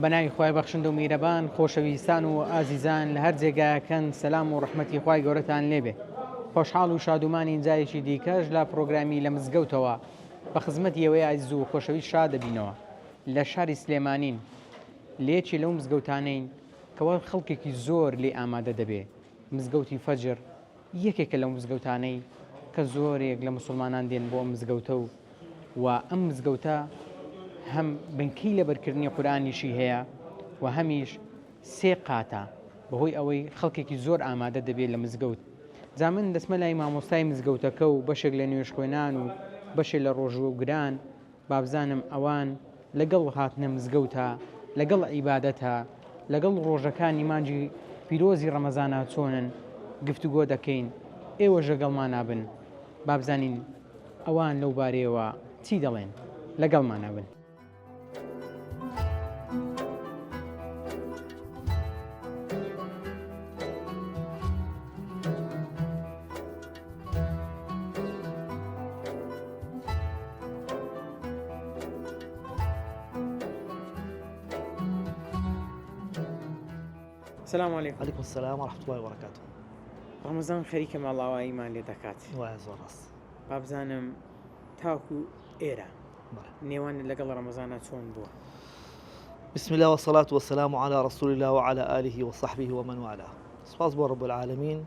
بە ناوی خوای بەخشندە و میرەبان خۆشەویستان و ئازیزان لە هەر جێگایەکەن سەلام و ڕەحمەتی خوای گەورەتان لێبێ خۆشحاڵ و شادومانی جارێکی دیکەش لە پرۆگرامی لە مزگەوتەوە بە خزمەتی ئێوەی ئازیز و خۆشەویست شا دەبینەوە لە شاری سلێمانین لە یەکی لەو مزگەوتانەین کەوا خەڵکێکی زۆر لێ ئامادە دەبێ مزگەوتی فەجر یەکێکە لەو مزگەوتانەی کە زۆرێک لە موسڵمانان دێن بۆ ئەم مزگەوتە و و ئەم مزگەوتە هەم بنکەی لەبەرکردنی قورئانیشی هەیە و هەمیش سێ قاتە بەهۆی ئەوەی خەڵکێکی زۆر ئامادە دەبێت لە مزگەوت جا من دەچمە لای مامۆستای مزگەوتەکە و بەشێک لە نوێژخوێنان و بەشێ لە ڕۆژووگران بابزانم ئەوان لەگەڵ هاتنە مزگەوتا لەگەڵ عیبادەتا لەگەڵ ڕۆژەکانی مانجی پیرۆزی ڕەمەزانا چۆنن گفتوگۆ دەکەین ئێوەش لەگەڵمانا بن بابزانین ئەوان لەو بارەیەوە چی دەڵێن لەگەڵمانا بن. سلام علیکم علیکم السلام ورحمة الله وبركاته ڕەمەزان خەریکە ماڵاواییمان لێ دەکات وایە زۆر ڕاست بابزانم تاکو ئێرە بەڵێ. نێوان لەگەڵ ڕەمەزانە چۆن بووە بسم الله والصلاة والسلام على رسول الله وعلى آله وصحبه ومن والاه سپاس بۆ رب العالمین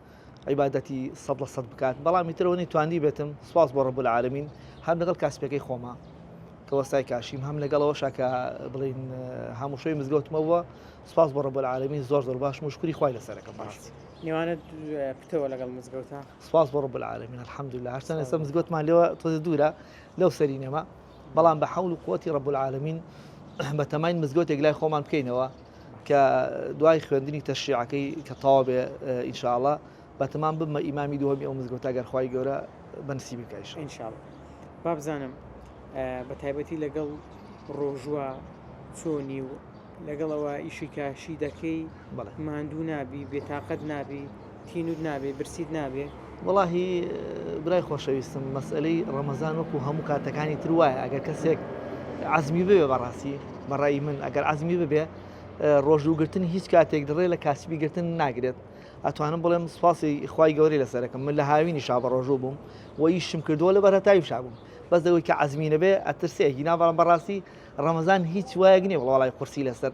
عیبادەتی سەد لە سەد بکات بەڵام ئیتر ئەوەنی توانی بێتم سپاس بۆ ڕەب العالمین هەم لەگەڵ کاسپەکەی خۆمە کە وەستای کاشیم هەم لەگەڵەوەشا کە بڵین هەموو شوی مزگەوتمەوە سپاس بۆ ڕەب العالمین زۆر زۆر باش مشکوری خوای لەسەرەکەم بەڕاستی نێوانە پتەوە لەگەڵ مزگەوتە سپاس بۆ ڕەب العالمین الحمدلله هەرچەند ئێستا مزگەوتمان لێوە تۆزە دوورە لەو سەری نەما بەڵام بە حەول و قوتی ڕەب العالمین بە تەماین مزگەوتێک لای خۆمان بکەینەوە کە دوای خوێندنی تەشریعەکەی کە تەواو بێ ئینشاءاللە بەتەمام ببمە ئیمامی دووەمی ئەو مزگەوتە گەر خوای گەورە بەنسیبی بکا ئینشاءاللە ئینشاءاللە بابزانم بە تایبەتی لەگەڵ ڕۆژوە چۆنی و لەگەڵەوە ئیشی کاشی دەکەی ماندوو نابی بێتاقەت نابی تینوت نابێ برسیت نابێ. وەڵاهی برای خۆشەویستم مەسئەلەی ڕەمەزان وەکو هەموو کاتەکانی تر وایە ئەگەر کەسێک عزمی ببێ بەڕاستی بەڕای من ئەگەر عزمی ببێ ڕۆژووگرتن هیچ کاتێک دڕێ لە کاسبی گرتن ناگرێت ئەتوانم بڵێم سوپاسی خی گەوری لەسەرەکەم من لە هاوینی شا بە ڕۆژوو بووم و یشم کردووە لە بەرەتاوی شابووم بەس دەوەی کە عزمینە بێ ئەترسێکی ناوەڕم بەڕاستی ڕەمەزان هیچ وایەک نیە وڵی قورسی لەسەر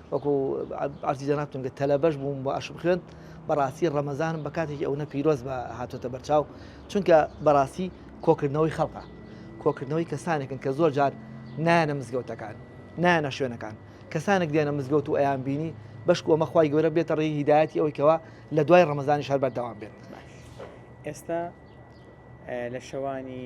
وەکو عەرزی جەنابتون کرد تەلەبەش بووم و ئەشم خوێند بەڕاستی ڕەمەزانم بە کاتێکی ئەونە پیرۆز بە هاتۆتە بەرچاو چونکە بەڕاستی کۆکردنەوەی خەڵقە کۆکردنەوەی کەسانێکن کە زۆر جار نایەنە مزگەوتەکان نایەنە شوێنەکان کەسانێک دێنە مزگەوت و ئەیان بینی بەشک ئەمە خی گەورە بێتە ڕێی هیدایەتی ئەوەی کەەوە لە دوای ڕەمەزانی شار بەردەوام بێت ئێستا لە شەوانی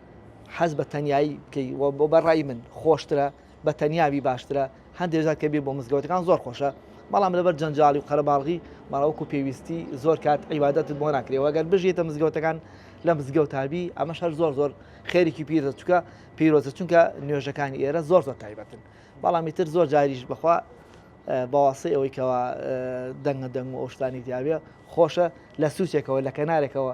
حەز بە تەنیایی بکەی و بۆ بە ڕای من خۆشترە بە تەنیابی باشترە هەندێک جار کە بێ بۆ مزگەوتەکان زۆر خۆشە بەڵام لەبەر جەنجاڵی و قەرەباڵغی ماڵەوەکو پێویستی زۆر کات عیبادەتت بۆ ناکرێەوە گەر بژێتە مزگەوتەکان لە مزگەوتابی ئەمە شەر زۆر زۆر خێریکی پیرە چکە پیرۆزە چونکە نوێژەکانی ئێرە زۆر زۆر تایبەتن بەڵامی تر زۆر جاریش بخوا باواسی ئەوەی کەەوە دەنگە دەنگ و ئەوشتانی دیاوێ خۆشە لە سوچێکەوە لە کەنارێکەوە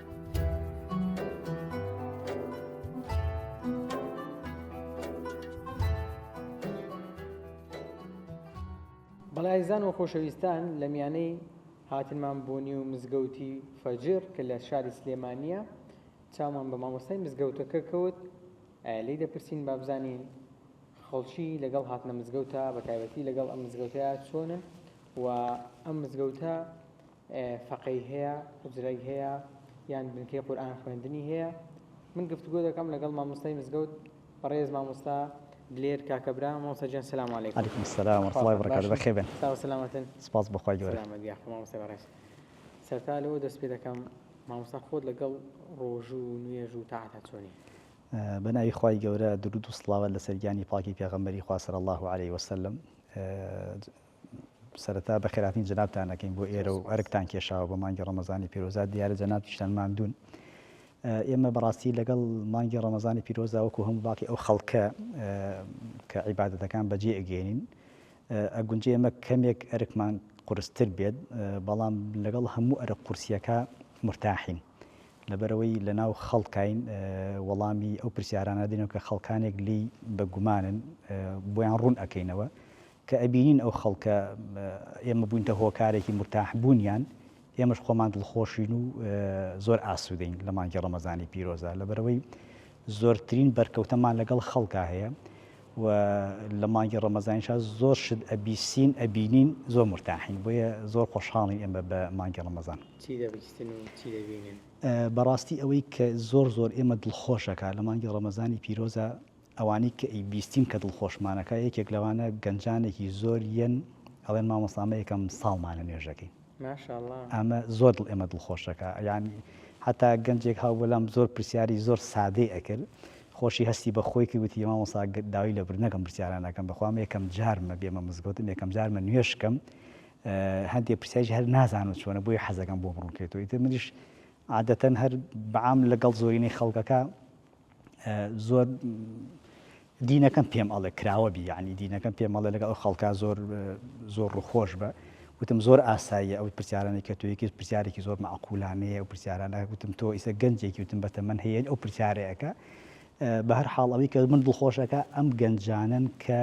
بەڵێ ئازیزان و خۆشەویستان لە میانەی هاتنمان بۆ نیو مزگەوتی فەجر کە لە شاری سلێمانیە چاومان بە مامۆستای مزگەوتەکە کەوت لی دەپرسین بابزانین خەڵکی لەگەڵ هاتنە مزگەوتە بە تایبەتی لەگەڵ ئەم مزگەوتەیە چۆنن و ئەم مزگەوتە فەقێی هەیە، حوجرەی هەیە، یان بنکەی قورئان خوێندنی هەیە، من گفتگۆ دەکەم لەگەڵ مامۆستای مزگەوت بەڕێز مامۆستا دلێر کاکە برا، مامۆستا گیان سلام علیکم. علیکم سلام ورحمة اللە وبرکاتە بەخێر بێن. ساغ و سەلامەتن. سوپاس بۆ خوای گەورە. سەلامەت یاخوا مامۆستای بەڕێز. سەرەتا لەوە دەست پێ دەکەم مامۆستا خۆت لەگەڵ ڕۆژو و نوێژ و تاعەتا چۆنی؟ بە ناوی خوای گەورە دروود و سڵاوات لەسەر گیانی پاکی پێغەمبەری خوا صلی اللە علیە وسلم سەرەتا بەخێرهاتنی جەنابتان ئەکەین بۆ ئێرە و ئەرکتان کێشاوە بۆ مانگی ڕەمەزانی پیرۆزە، دیارە جەنابتیشتان ماندوون. ئێمە بەڕاستی لەگەڵ مانگی ڕەمەزانی پیرۆزدا وەکو هەموو باقی ئەو خەڵکە کە عیبادەتەکان بەجێ ئەگەیەنین، ئەگونجێ ئێمە کەمێک ئەرکمان قورستر بێت، بەڵام لەگەڵ هەموو ئەرک قورسییەکە مورتاحین، لەبەرئەوەی لەناو خەڵکین وەڵامی ئەو پرسیارانە دەدەینەوە کە خەڵکانێک لێی بە گومانن بۆیان ڕوون ئەکەینەوە، کە ئەبینین ئەو خەڵکە ئێمە بووینتە هۆکارێکی مورتاح بوونیان، ئێمەش خۆمان دڵخۆشین و زۆر ئاسوودەین لە مانگی ڕەمەزانی پیرۆزدا، لەبەرئەوەی زۆرترین بەرکەوتەمان لەگەڵ خەڵکا هەیە و لە مانگی ڕەمەزانیشا زۆر شت ئەبیسین ئەبینین زۆر مورتاحین، بۆیە زۆر خۆشحاڵین ئێمە بە مانگی ڕەمەزان. چی دەبیستن و چی دەبینن؟ بەڕاستی ئەوەی کە زۆر زۆر ئێمە دڵخۆش ئەکا لە مانگی ڕەمەزانی پیرۆزا ئەوانەی کە ئەی بیستین کە دڵخۆشمانەکا یەکێک لەوانە گەنجانێکی زۆر یەن ئەڵێن مامۆستا ئەمە یەکەم ساڵمانە نوێژەکەین ماشاءاللە. ئەمە زۆر دڵ ئێمە دڵخۆشەکا یانی حەتا گەنجێک هاوبوو لام زۆر پرسیاری زۆر سادەی ئەکرد خۆشی هەستی بە خۆی کرد وتی مامۆستا داوی لە برد نەکەم پرسیاران ئەکەم بەخوا ئەمە یەکەم جارمە بێمە مزگەوت ئەمە یەکەم جارمە نوێژ کەم هەندێ پرسیاریش هەر نازانم چۆنە بۆیە حەزەکەم بۆ بڕوون کرێتەوە ئیتر منیش عادەتەن هەر بەعام لەگەڵ زۆرینەی خەڵکەکە زۆر دینەکەم پێم ئەڵێ کراوە بی یانی دینەکەم پێم ئەڵێ لەگەڵ ئەو خەڵکا زۆر زۆر ڕووخۆش بە وتم زۆر ئاساییە ئەو پرسیارانەی کە توی کرد پرسیارێکی زۆر معقولانەیە ئەو پرسیارانە وتم تۆ ئیسە گەنجێکی وتم بە تەمەەن هەیە ئەو پرسیارەیەەکە بە هەر حاڵ ئەوی کە من دڵخۆشەکە ئەم گەنجانن کە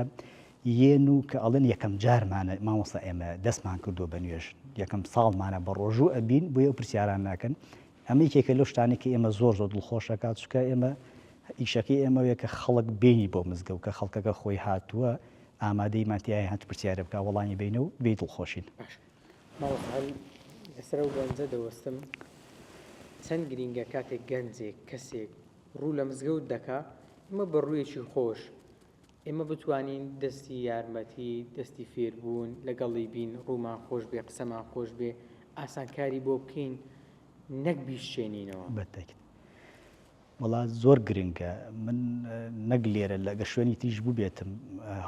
یەن و کە ئەڵێن یەکەم جارمانە مامۆستا ئێمە دەستمان کردو بە نوێژ یەکەم ساڵمانە بە ڕۆژوو ئەبین بۆ ئەو پرسیاران ناکەن ئەمە یەکێکە لەو شتانەی کە ئێمە زۆر زۆر دڵخۆش ئەکات، چونکە ئێمە ئیشەکەی ئێمە ئەوەیە کە خەڵک بێینی بۆ مزگەوت، کە خەڵکەکە خۆی هاتووە ئامادەی ماتیای هات پرسیارە بکات وەڵامی بەینە و بێی دڵخۆشین. باشە مامۆستا هەر لەسەر ئەو گەنجە دەوەستم چەند گرینگە کاتێک گەنجێک کەسێک ڕوو لە مزگەوت دەکا ئێمە بە ڕوویەکی خۆش ئێمە بتوانین دەستی یارمەتی، دەستی فێربوون، لەگەڵی بین، ڕوومان خۆش بێ، قسەمان خۆش بێ، ئاسانکاری بۆ بکەین، نەک بیشچێنینەوە. بەتەکت وەڵا زۆر گرنگە، من نەک لێرە ئەگەر شوێنی تریش بووبێتم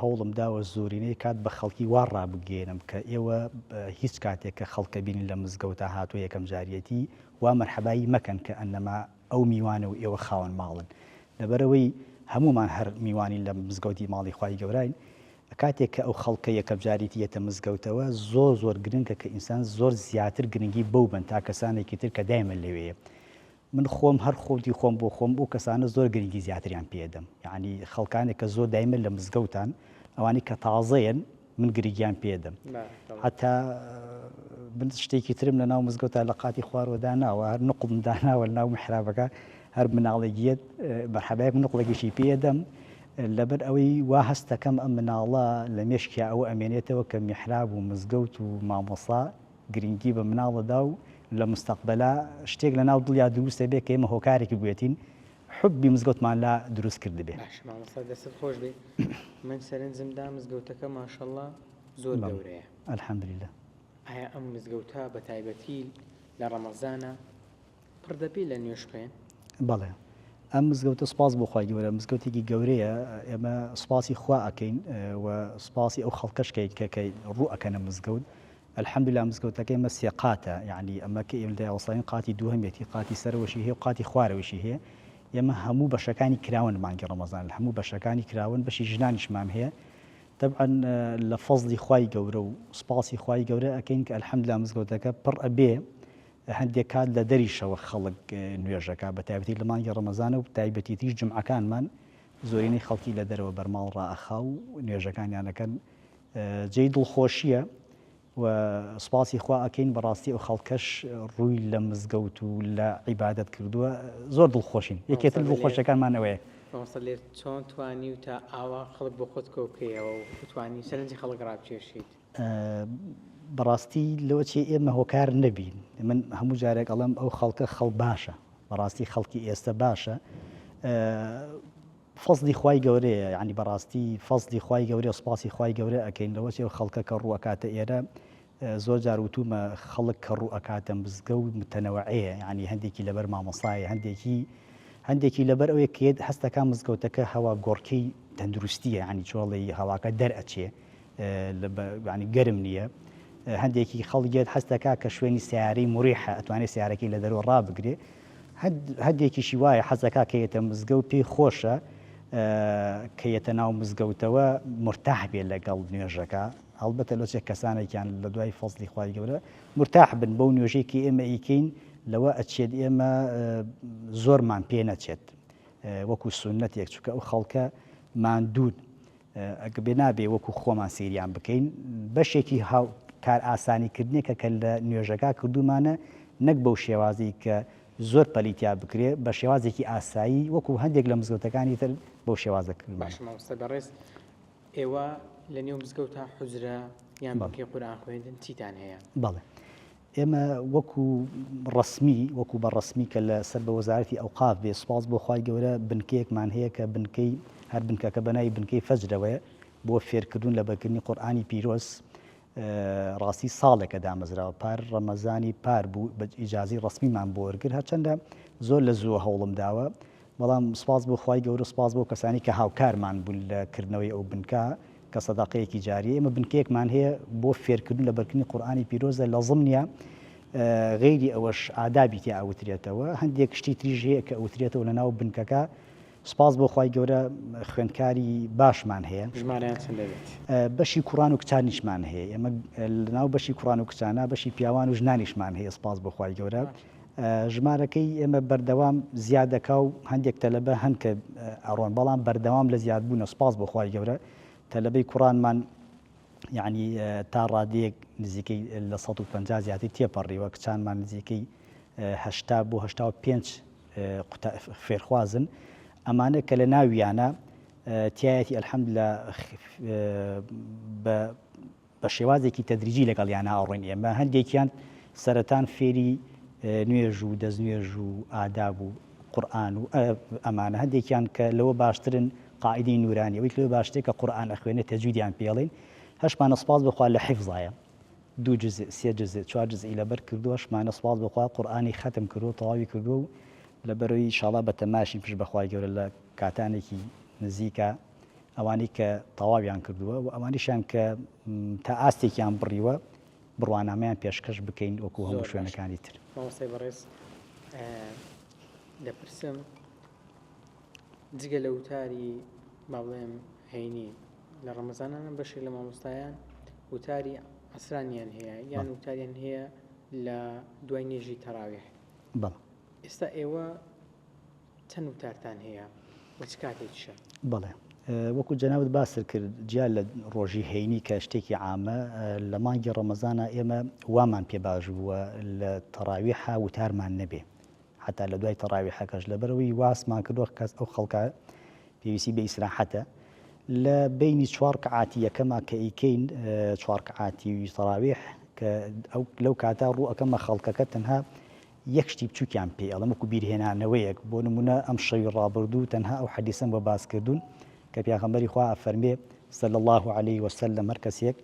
هەوڵم داوە زۆرینەی کات بە خەڵکی وا ڕابگەیەنم کە ئێوە هیچ کاتێک کە خەڵکە بینن لە مزگەوتا هاتووە یەکەم جاریەتی وا مەرحەبایی مەکەن کە ئەننەما ئەو میوانە و ئێوە خاوەن ماڵن لەبەرئەوەی هەموومان هەر میوانی لە مزگەوتی ماڵی خوای گەوراین کاتێک کە ئەو خەڵکە یەکەم جاریتی یەتە مزگەوتەوە زۆر زۆر گرنگە کە ئینسان زۆر زیاتر گرنگی بەو بەن تا کەسانێکی تر کە دایمە لەوێیە من خۆم هەر خۆتی خۆم بۆ خۆم ئەو کەسانە زۆر گرنگی زیاتریان پێدەم یعنی خەڵکانێک کە زۆر دایمە لە مزگەوتان ئەوانەی کە تازەیەن من گرگیان پێ دەم هەتا من شتێکی ترم لە ناو مزگەوتا لە قاتی خوارەوە داناوە هەر نقم داناوە لە ناو محرابەکە هەر مناڵێکیت بەحەبایەک نقڵێکیشی پێ دەم لەبەر ئەوەی وا هەستەکەم ئەم مناڵە لە مێشکیا ئەوە ئەمێنێتەوە کە میحراب و مزگەوت و مامۆسا گرنگی بە مناڵەدا و لە مستەقبلا شتێک لە ناو دڵیا دروستە بێ کە ئێمە هۆکارێکی بێتین حوبی مزگەوتمان لا دروست کردبێ. باشە مامۆستا دەستت خۆش بێ من سەرنجم دا مزگەوتەکە ماشەڵا زۆر گەورەیە الحمدللە. ئایا ئەم مزگەوتە بە تایبەتی لە ڕەمەزانا پڕ دەبێ لە نوێژ خوێن؟ بەڵێ ئەم مزگەوتە سوپاس بۆ خوای گەورە مزگەوتێکی گەورەیە ئێمە سوپاسی خوا ئەکەین و سوپاسی ئەو خەڵکەش کەین کە کە ڕوو ئەکەنە مزگەوت الحمدللە مزگەوتەکەی ئێمە سێ قاتە یانی ئەمە کە ئێمە دایوەساین قاتی دووهەمێتی قاتی سەرەوەشی هەیە و قاتی خوارەوەشی هەیە ئێمە هەموو بەشەکانی کراوەن مانگی ڕەمەزان هەموو بەشەکانی کراوەن بەشی ژنانیشمان هەیە تەبعەن لە فەزلی خوای گەورە و سوپاسی خوای گەورە ئەکەین کە الحمدللە مزگەوتەکە پڕ ئەبێ هەندێک کات لە دەریشەوە خەڵک نوێژەکە بە تایبەتی لە مانگی ڕەمەزانە و تایبەتیتیش جمعەکانمان زۆرینەی خەڵکی لە دەرەوە بەرماڵ ڕائەخا و نوێژەکانیانەکەن جێی دڵخۆشیە و سوپاسی خوا ئەکەین بەڕاستی ئەو خەڵکەش ڕووی لە مزگەوت و لە عیبادەت کردووە زۆر دڵخۆشین یەکێ تر دڵخۆشەکانمان ئەوەیە. مامۆستا لێر چۆن توانیو تا ئاوا خەڵک بۆ خۆت کۆ بکەیەوە و توانی سەرنجی خەڵک ڕابکێشیت؟ بەڕاستی لەوە چی ئێمە هۆکار نەبین من هەموو جارێک ئەڵێم ئەو خەڵکە خەڵ باشە بەڕاستی خەڵکی ئێستە باشە فەزلی خوای گەورەیە یانی بەڕاستی فەزلی خوای گەورەیە سوپاسی خوای گەورە ئەکەین لەوەچی ئەو خەڵکە کە ڕوو ئەکاتە ئێرە زۆر جار وتومە خەڵک کە ڕوو ئەکاتە مزگە و متەنەوەعەیە یانی هەندێکی لەبەر مامۆستایە هەندێکی هەندێکی لەبەر ئەوەی کێت هەستەکان مزگەوتەکە هەوا گۆڕکەی تەندروستیە یانی چۆڵی هەواکە دەرئەچێ یانی گەرم نییە هەندێکی خەڵگێت هەست دەکا کە شوێنی سیارەی مریحە ئەتوانێت سیارەکەی لە دەرەوە ڕابگرێ هەندێکیشی وایە حەزەکە کە یەتە مزگە و پێی خۆشە کە یەتە ناو مزگەوتەوە مرتاح بێت لەگەڵ نوێژەکە هەڵبەتە لۆچێک کەسانێکیان لە دوای فەزلی خی گەورە مرتاح بن بەو نوێژێکی ئێمە ئیکەین لەوە ئەچێت ئێمە زۆرمان پێ نەچێت وەکو سنەتێک چکە ئەو خەڵکە ماندوود ئەگەربێ نابێ وەکو خۆمان سەیریان بکەین بەشێکی کارئاسانیکردنێکە کە لە نوێژەکە کردوومانە نەک بەو شێوازەی کە زۆر پەلی تیا بکرێ بە شێوازێکی ئاسایی وەکو هەندێک لە مزگەوتەکانی تر بەو شێوازە کردوومانە. باشە مامۆستا بەڕێز ئێوە لەنێو مزگەوتا حوجرە یان بەڵکێ قورئان خوێندن چیتان هەیە؟ بەڵێ ئێمە وەکو ڕەسمی وەکو بە ڕەسمی کە لە سەر بە وەزارەتی ئەوقاف بێ سوپاس بۆ خوای گەورە بنکەیەکمان هەیە کە بنکەی هەر بنکەکە بە ناوی بنکەی فەجرەوەیە بۆ فێرکردون لە بەرکردنی قورئانی پیرۆز ڕاستی ساڵێکە دامەزراوە پار ڕەمەزانی پار بوو بە ئیجازی ڕەسمیمان بۆ وەرگر هەرچەندە زۆر لە زووە هەوڵم داوە بەڵام سوپاس بۆ خوای گەورە و سوپاس بۆ ئەو کەسانەی کە هاوکارمان بوون لە کردنەوەی ئەو بنکە کە سەدەقەیەکی جارییە. ئێمە بنکەیەکمان هەیە بۆ فێرکردن و لەبەرکردنی قورئانی پیرۆزە لە ضمنیا غەیری ئەوەش ئادابی تیا ئەوترێتەوە هەندێک شتی تریش هەیە کە ئەوترێتەوە لە ناو بنکەکە سوپاس بۆ خوای گەورە خوێندکاری باشمان هەیە. ژمارەیان چەند دەبێت؟ بەشی کوڕان و کچانیشمان هەیە ئێمە لە ناو بەشی کوڕان و کچانە بەشی پیاوان و ژنانیشمان هەیە سوپاس بۆ خوای گەورە. ژمارەکەی ئێمە بەردەوام زیاد دەکا و هەندێک تەلەبە هەن کە ئەڕۆن بەڵام بەردەوام لە زیادبوونە سپاس بۆ خوای گەورە تەلەبەی کوڕانمان یعنی تا ڕادەیەک نزیکەی لە 150 زیاتر تێپەڕیوە کچانمان نزیکەی هەشتا بۆ هەشتا و پێنج فێرخوازن ئەمانە کە لە ناویانە تایەتی ئەلحەمد لە بە بە شێوازێکی تەدریجی لەگەڵیانا ئەڕۆین ئێمە هەندێکیان سەرەتان فێری نوێژ و دەستنوێژ و ئاداب و قورئان و ئەمانە هەندێکیان کە لەوە باشترن قاعیدەی نورانی ئەویت لەوە باشترە کە قورئان ئەخوێنێت تەجویدیان پێڵێن هەشمانە سپاس بخوا لە حیفزایە دوو جزء سێ جزء چوار جزءی لەبەر کردو هەشمانە سپاس بخوا قورئانی ختم کردو تەواوی کردو و لەبەرەوەی ئیشاڵا بە تەماشین پشت بەخوای گەورە لە کاتانێکی نزیکا ئەوانەی کە تەواویان کردووە و ئەوانیشیان کە تا ئاستێکیان بڕیوە بڕوانامەیان پێشکەش بکەین وەکو هەموو شوێنەکانی تر. مامۆستای بەڕێز دەپرسم جگە لە وتاری با بڵێم هەینی لە ڕەمەزانانە بەشێک لە مامۆستایان وتاری عسرانیان هەیە یان وتاریان هەیە لە دوای نێژی تەراوێ بەڵ ئێستا ئێوە چەند وتارتان هەیە و چ کاتێکیشە؟ بەڵێ وەکو جەنابت باست کرد جیا لە ڕۆژی هەینی کە شتێکی عامە لە مانگی ڕەمەزانە ئێمە وامان پێ باش بووە لە تەڕاویحا وتارمان نەبێ حتا لە دوای تەڕاویحەکەش لەبەرەوەی واسمان کردوە کەس ئەو خەڵکە پێویستی بە ئیسراحەتە لە بینی چوار کەعاتی یەکەما کە ئیکەین چوار کەعاتی تەراویح کە ئەو لەو کاتا ڕوو ئەەکەمە خەڵکەکە تەنها یەک شتی بچووکیان پێی ئەڵێم وەکو بیرهێنانەوەیەک، بۆ نموونە ئەم شەوی ڕابردوو تەنها ئەو حەدیسەم بۆ باس کردوون کە پیاغەمبەری خوا ئەفەرموێ، صلی اللە علیە وسلم، هەر کەسێک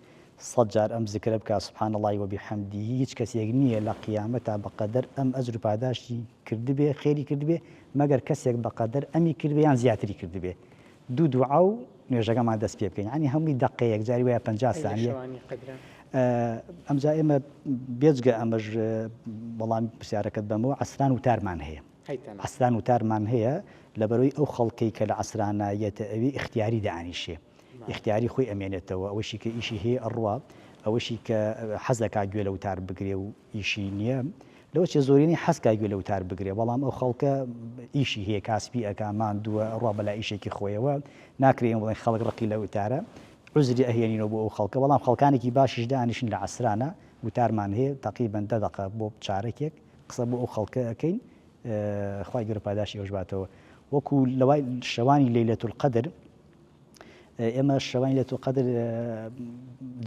سەد جار ئەم زکرە بکا، سبحان اللە وبحمده، هیچ کەسێک نییە لە قیامەتا بەقەدەر ئەم ئەجر و پاداشتی کردبێ، خێری کردبێ، مەگەر کەسێک بەقەدەر ئەمی کردبێ یان زیاتری کردبێ، دوو دوعا و نوێژەکەمان دەست پێ بکەین یانی هەمووی دەقەیەک جاری وایە پەنجا سانیە ئەمجا ئێمە بێجگە ئەمەش بەڵام پرسیارەکەت بەمەوە عسران وتارمان هەیە عسران وتارمان هەیە لەبەرەوەی ئەو خەڵکەی کە لە عسرانایەتە ئەوی اختیاری دانیشێ اختیاری خۆی ئەمێنێتەوە ئەوەشی کە ئیشی هەیە ئەڕوا ئەوەشی کە حەزەکە گوێ لە وتار بگرێ و ئیشی نیە لەوە چێ زۆرینەی حەز کا گوێ لە وتار بگرێ بەڵام ئەو خەڵکە ئیشی هەیە کاسپی ئەکا ماندووە ئەڕوا بەلا ئیشێکی خۆیەوە ناکرێ ئێمە بڵێن خەڵک ڕقی لە وتارە عوزری ئەهێنینەوە بۆ ئەو خەڵکە بەڵام خەڵکانێکی باشیش دانیشن لە عەسرانە وتارمان هەیە تەقریبەن دە دەقە بۆ چارەکێک قسە بۆ ئەو خەڵکە ئەکەین خوای گەورە پاداشتی ئێوەش باتەوە وەکو لەوای شەوانی لەیلەتولقەدر ئێمە شەوانی لەتوو قەدر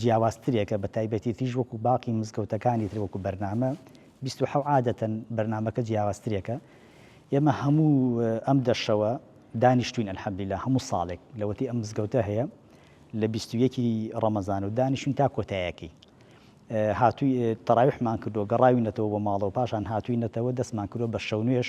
جیاوازترێکە بە تایبەتی تیژ وەکو باقی مزگەوتەکانی تر وەکو بەرنامە بیست و حەو عادەتەن بەرنمەکە جیاوازترێکە ئێمە هەموو ئەم دەشەوە دانیشتوین ئەلحەمدللا هەموو ساڵێک لەوەتی ئەم مزگەوتە هەیە لە بیستویەکی ڕەمەزان و دانیشتون تا کۆتایەکی هاتووی تەراویحمان کردو گەڕاوی نەتەوە بۆ ماڵەوە پاشان هاتووی نەتەوە دەستمان کردو بە شەونوێش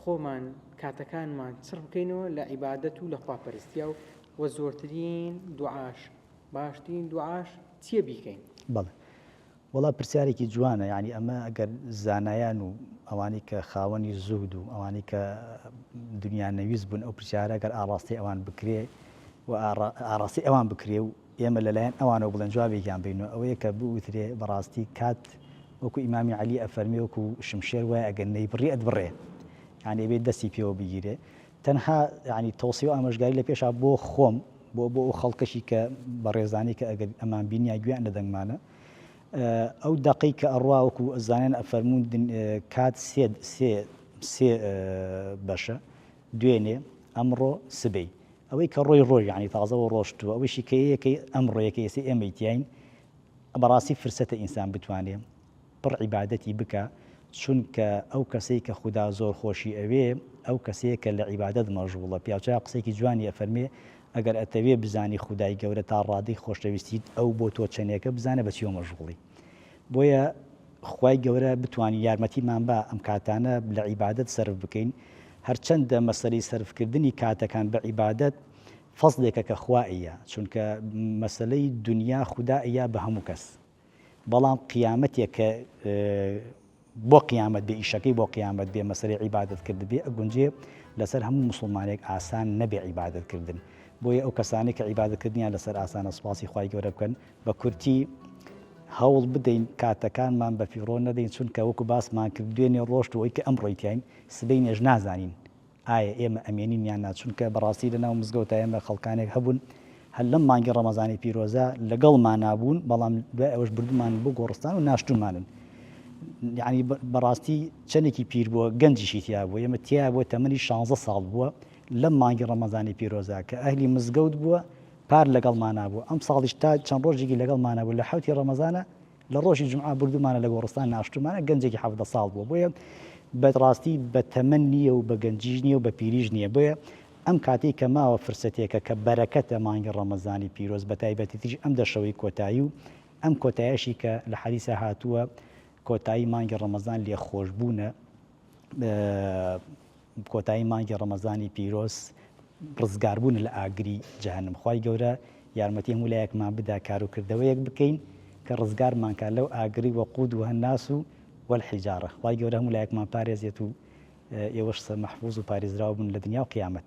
خۆمان کاتەکانمان چڕ بکەینەوە لە عیبادەت و لە خواپەرستیا و وە زۆرترین دوعاش باشترین دوعاش چیە بیکەین؟ بەڵێ وەڵا پرسیارێکی جوانە یانی ئەمە گەر زانایان و ئەوانەی کە خاوەنی زوهد و ئەوانەی کە دنیا نەویست بوون ئەو پرسیارە گەر ئاڕاستەی ئەوان بکرێ و ئاڕاستەی ئەوان بکرێ و ئێمە لە لایەن ئەوانەوە بڵێن جوابێکیان بەین و ئەوەیە کە بوترێ بە ڕاستی کات وەکوو ئیمامی عەلی ئەفەرمێ وەکوو شمشێر وایە ئەگەر نەیبڕی ئەتبڕێ یانی ئەبێ دەستی پێوە بگیرێ تەنها یانی تەوسیە و ئامۆژگاری لە پێشا بۆ خۆم بۆ بۆ ئەو خەڵکەشی کە بەڕێزانەی کە ئەگەر ئەمان بینیا گوێیان لە دەنگمانە ئەو دەقەی کە ئەڕوا وەکوو ئەزانن ئەفەرموون کات سێ سێ سێ بەشە دوێنێ ئەمڕۆ سبەی ئەوەی کە ڕۆی ڕۆی یانی تازەوە ڕۆشتوە ئەوەشی کە یەکەی ئەم ڕۆیە کە ئێسەی ئێمەی تیاین بەڕاستی فرسەتە ئینسان بتوانێ پڕ عیبادەتی بکا چونکە ئەو کەسەی کە خودا زۆر خۆشی ئەوێ ئەو کەسەیە کە لە عیبادەت مەژغوڵە پیاوچاک قسەیەکی جوانی ئەفەرمێ ئەگەر ئەتەوێ بزانی خودای گەورە تا ڕادەی خۆشەویستیت ئەو بۆ تۆ چەنێکە بزانە بە چیەوە مەژغوڵی. بۆیە خوای گەورە بتوانین یارمەتیمان با ئەم کاتانە لە عیبادەت سەرف بکەین هەرچەندە مەسەلەی سەرفکردنی کاتەکان بە عیبادەت فەزلێکە کە خوا ئەیە چونکە مەسەلەی دنیا خودا ئەیا بە هەموو کەس بەڵام قیامەتێک کە بۆ قیامەت بێ ئیشەکەی بۆ قیامەت بێ مەسەلەی عیبادەت کردبێ ئەگونجێ لەسەر هەموو موسڵمانێک ئاسان نەبێ عیبادەت کردن بۆیە ئەو کەسانەی کە عیبادەت کردنیان لەسەر ئاسانە سوپاسی خوای گەورە بکەن بە کورتی هەوڵ بدەین کاتەکانمان بە فیڕۆ نەدەین چونکە وەکو باسمان کرد دوێنێ ڕۆشت و ئەوەی کە ئەمڕۆی تیاین سبەینێش نازانین ئایا ئێمە ئەمێنین یان نا؟ چونکە بەڕاستی لە ناو مزگەوتا ئێمە خەڵکانێک هەبوون هەر لەم مانگی ڕەمەزانی پیرۆزە لەگەڵمانا بوون، بەڵام دوای ئەوەش بردوومانن بۆ گۆڕستان و ناشتوومانن. یەعنی بەڕاستی چەندێکی پیر بووە، گەنجیشی تیا بووە، ئێمە تیا بووە تەمەنی شانزە ساڵ بووە لەم مانگی ڕەمەزانی پیرۆزە کە ئەهلی مزگەوت بووە پار لەگەڵمانا بوو، ئەمساڵیش تا چەند ڕۆژێکی لەگەڵمانا بوو لە حەوتی ڕەمەزانە لە ڕۆژی جومعە بردومانە لە گۆڕستان ناشتومانە گەنجێکی حەڤدە ساڵ بووە بۆیە بە ڕاستی بە تەمەن نییە و بە گەنجیش نییە و بە پیریش نییە بۆیە ئەم کاتەی کە ماوە فرسەتێکە کە بەرەکەتە مانگی ڕەمەزانی پیرۆز بە تایبەتیتریش ئەم دە شەوەی کۆتایی و ئەم کۆتایەشی کە لە حەدیسا هاتووە کۆتایی مانگی ڕەمەزان لێخۆشبوونە کۆتایی مانگی ڕەمەزانی پیرۆز ڕزگار بوون لە ئاگری جەهەنم خوای گەورە یارمەتی هەموو لایەکمان بدا کارو کردەوەیەک بکەین کە ڕزگارمان کا لەو ئاگری وەقود و هەناس و والحجارە خوای گەورە هەموو لایەکمان پارێزێت و ئێوەش سەرمەحفوز و پاریزراو بن لە دنیا و قیامەت.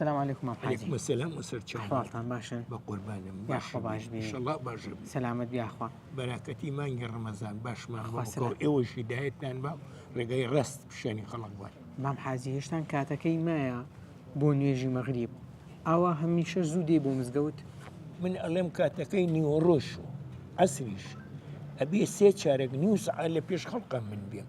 سلام علیکم مام حاجی علیکم السلام و سەر چاو حاڵتان باشن بە قوربانم باش باش بی انشالله باش بی سلامت بیاخوا بەراکەتی مانگی ڕەمەزان باشمان بەسەر ئێوەش هیدایەتتان با ڕێگای ڕست پیشانی خەڵک بوون مام حاجی هێشتان کاتەکەی مایە بۆ نوێژی مەغریب ئاوا هەمیشە زوو دێ بۆ مزگەوت من ئەڵێم کاتەکەی نیوەڕۆش و ئەسریش ئەبێ سێ چارێک نیوس لە پێش خەڵقە من بێم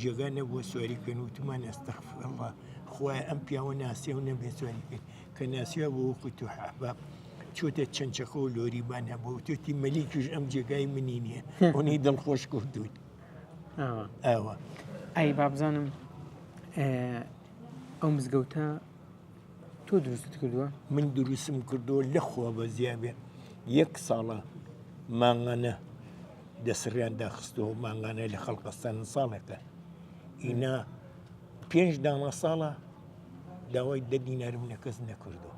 جێگا نەبووە سواری بکەین وتمان ئەستەغفراللە خوایە ئەم پیاوە ناسیەوە نەبێت سواری بکەین کە ناسیوە بۆ وەکو تو حەباب چۆتە چەند چەکە و لۆریبان هەبوو توێتی مەلیکیش ئەم جێگای منی نییە ئەوەی دڵخۆش کردووت ئەوە ئەی بابزانم ئەو مزگەوتە تۆ دروست کردووە من دروستم کردووە لە خۆ بە زیابێ یەک ساڵە مانگانە دەسڕیان داخستەوە مانگانەی لە خەڵقەستان ساڵێکە ئینا پێنج داما ساڵە داوای دە دینارم لە کەس نەکردو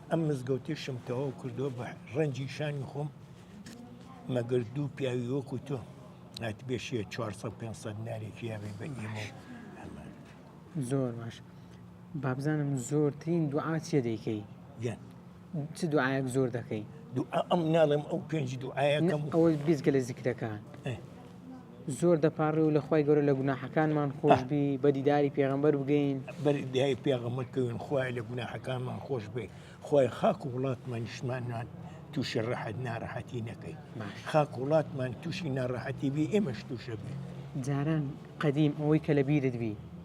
ئەم مزگەوتیشم تەواو کردو بە ڕەنجی شانی خۆم مەگەر دوو پیاوی وەکو تۆ نات بێشیە 400 500 نارێکی یاێ بە ئێمە زۆر باش بابزانم زۆرترین دوعاچیە دەیکەی گەن چ دوعاەک زۆر دەکەی ئەم ناڵێم ئەو پێنج دوعاەکەم ئەوە بیزگە لە زیکرەکان زۆر دەپاڕێ و لەخوای گەورە لە گوناحەکانمان خۆشببی بە دیداری پێغمبەر بگەین بەردای پێغەمەکەون خوای لە گوناحەکانمان خۆش بێ خۆی خاک و وڵاتمان نیشمانمان تووشی ڕەحەت ناڕەحەتی نەکەی خاک وڵاتمان تووشی ناڕەحەتی بی ئێمەش تووشە بێ جاران قەدیم ئەوەی کە لە بیرت بی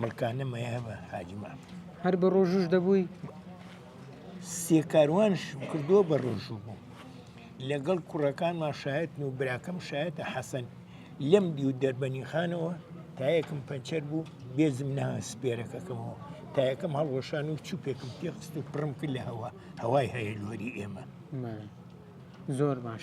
ملکانە مەیە بە حاجی مام هەر بە ڕۆژوش دەبووی سێ کاروانشم کردووە بە ڕۆژوو بوو لەگەڵ کوڕەکانمان شایەتن و براکەم شایەتە حەسەن لەم دیو دەربەنی خانەوە تایەکم پەنچەر بوو بێزم نا سپێرەکەکەمەوە تایەکەم هەڵوەشان و چوپێکم تێخست و پڕم کرد لە هەوا هەوای هەیە لۆری ئێمە زۆر باش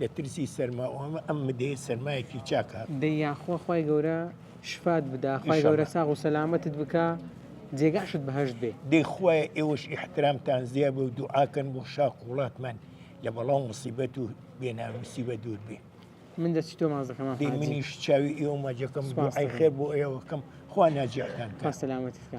لە ترسی سەرما و ئەمە ئەم مدەیە سەرمایەکی چاکە. دەی یاخوا خوای گەورە شفات بدا خوای گەورە انشاللە. ساغ و سەلامەتت بکا جێگاشت بەهەشت بێ. دەی خوایە ئێوەش ئیحترامتان زیا بێ و دوعا کەن بۆ شاخ و وڵاتمان لە بەڵا و موسیبەت و بێ ناموسی بە دوور بێ. من دەستی تۆ ماچ دەکەم مام دەی حاجی. منیش چاوی ئێوە ماچ دەکەم و سوپاس دوعای دەکەم. خێر بۆ ئێوە کەم خوا ناجیحتان کا. خوا سەلامەتت کا.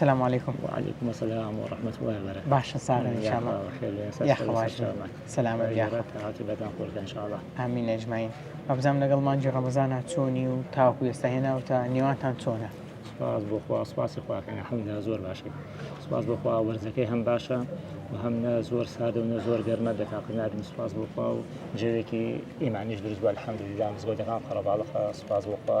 سلام علیکم وعلیکم السلام ورحمة الله وبرکاته باشە ساغە ان شاء الله یاخەواش سلام ان شاء الله امین اجمعین ئەبزام لەگەڵ مانجی ڕەمەزانە چۆنی و تاوکو ئێستا هێناوتە نێوانتان چۆنە سپاس بۆ خوا سپاسی خواکەن حەمدا زۆر باشی سپاس بۆ خوا وەرزەکەی هەم باشە و هەم نە زۆر سادە و نە زۆر گەرمە دەکاتنادن سپاس بۆ خوا و جەوێکی ئیمانیش دروست بە حەمددا مزگۆدەکان قەرەباڵخە سپاس بۆ خوا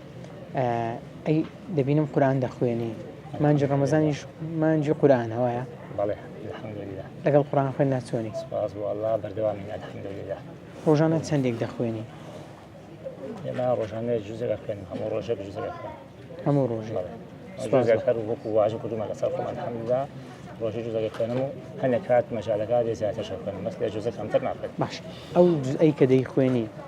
ئەی دەبینم قورآن دەخوێنی مانجی ڕەمەزانیش مانجی قورآنە وایە بەڵێ الحمدلله لەگەڵ قورآن خوێندنا چۆنی سپاس بۆ ئەڵڵا بەردەوامین الحمدلله ڕۆژانە چەندێک دەخوێنی ئێمە ڕۆژانە جوزە دەخوێنم هەموو ڕۆژێک جوزە دەخوێنم هەموو ڕۆژ جوزەک هەر وەکو واژە کردومە لەسەر خۆم الحمدلله ڕۆژی جوزە دەخوێنم و هەندێک کات مەجالەکە دێ زیاتر شەخوێنم بەس لە جوزە کەمتر ناخوێنم باش ئەو جزئی کە دەیخوێنی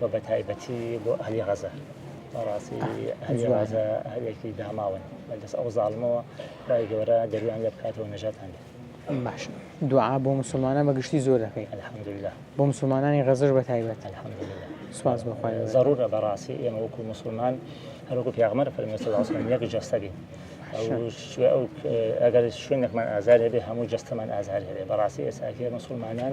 و بەتایبەتی بۆ ئەهلی غەزە بەڕاستی ئەهلی غەزە هەلێکی داماون بەدەست ئەو زاڵمەوە خی گەورە دەرویان لە بکاتەوە نەژاتان بێت باش دوعا بۆ مسلمانان بە گشتی زۆر دەکەی الحمدلله بۆ مسلمانانی غەزش بە تایبەت الحمدلله سواز بخوای ضرورە بەڕاستی ئێمە وەکو مسلمان هەروکو پیاغمەر فەرمێسەڵاسمان یەک جەستەبی ئەگەر شوێنێکمان ئازار هەبێ هەموو جەستەمان ئازار هەبێ بەڕاستی ئێساکیە مسلمانان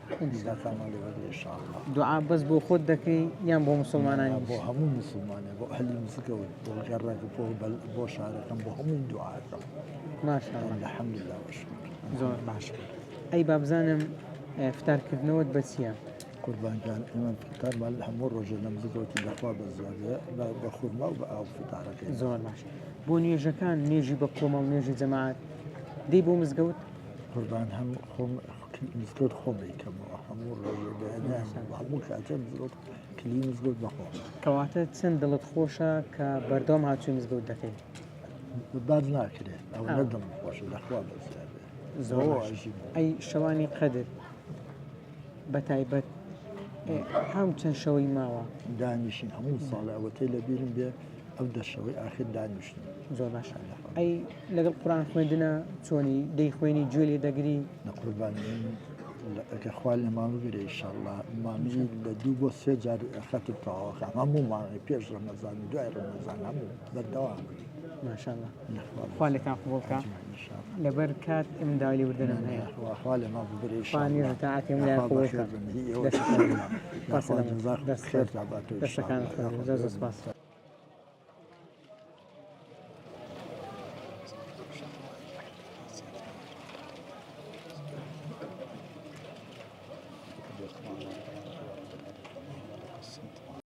دوعا بەس بۆ خۆت دەکەی یان بۆ مسلمانان بۆ هەموو مسلمانە بۆ هەلی مسکەوە بۆ گەڕەکە بۆ بۆ شارەکەم بۆ هەموو دوعاکەم ماشاءالله لە حەمد لله زۆر باش ئەی بابزانم فتارکردنەوەت بە چییە؟ قوربانگان ئێمە فتارمان لە هەموو ڕۆژە لە مزگەوتی لەخوا بە زیادە بە خورما و بە ئاو فتارەکە زۆر باش بۆ نوێژەکان نوێژی بە کۆمەڵ نوێژی جەماعات دەی بۆ مزگەوت قوربان هەم خۆم مزگەوت خۆم دەیکەمەوە هەموو هەموو کاتێ مزگەوت کلی مزگەوت بەخۆم کەواتە چەند دڵت خۆشە کە بەردەوام هاچوی مزگەوت دەکەیت باز ناکرێت ئەو نەدڵم خۆشە لەخوا بەزیاد ئەی شەوانی قەدر بە تایبەت هەم چەند شەوەی ماوە دانیشین هەموو ساڵەوەتەی لە بیرم بێ ئەو دەرشەوەی ئاخر دانیشتن زۆر باش ئەی لەگەڵ قوران خوێندنە چۆنی دەی خوێنی گوێ لێ دەگری لە قوربان ئەگە خوال لە ماڵ گرێ شله مامی لە دوو بۆ سێ جار خەتی تەواوەکە هەموو ماڵی پێش ڕەمەزان دوای ڕەمەزان هەموو بەردەوام ماشاءالله خوا لێتان قبوڵ کا لەبەر کات ئێمە داوای لێبوردنم هەیە خوا لێ ما ببرێ خوا نوێژ تاعاتێم لای قبوڵ کا دەستەکان زۆر زۆر سپاس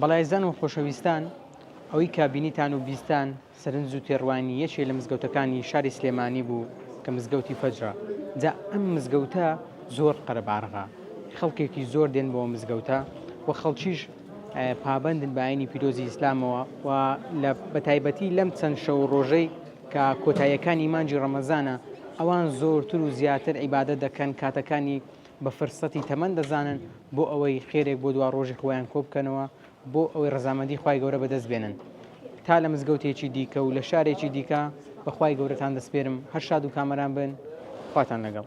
بەڵێزان و خۆشەویستان ئەوەی کە بینیتان و بیستتان سەرنج و تێڕوانینی یەکێ لە مزگەوتەکانی شاری سلێمانی بوو کە مزگەوتی فەجرە جا ئەم مزگەوتە زۆر قەرەباڵغە خەڵکێکی زۆر دێن بۆ مزگەوتە و خەڵکیش پابەندن بە ئاینی پیرۆزی ئیسلامەوە و لە بەتایبەتی لەم چەند شەو و ڕۆژەی کە کۆتاییەکانی مانگی ڕەمەزانە ئەوان زۆرتر و زیاتر عیبادەت دەکەن کاتەکانی بە فرسەتی تەمەن دەزانن بۆ ئەوەی خێرێک بۆ دوا ڕۆژی خۆیان کۆبکەنەوە بۆ ئەوەی ڕزامەندی خی گەورە بەدەست بێنن تا لە مزگەوتێکی دیکە و لە شارێکی دیکە بەخوای گەورەتان دەسپێرم هەر شاد و کامەران بن خواتان لەگەڵ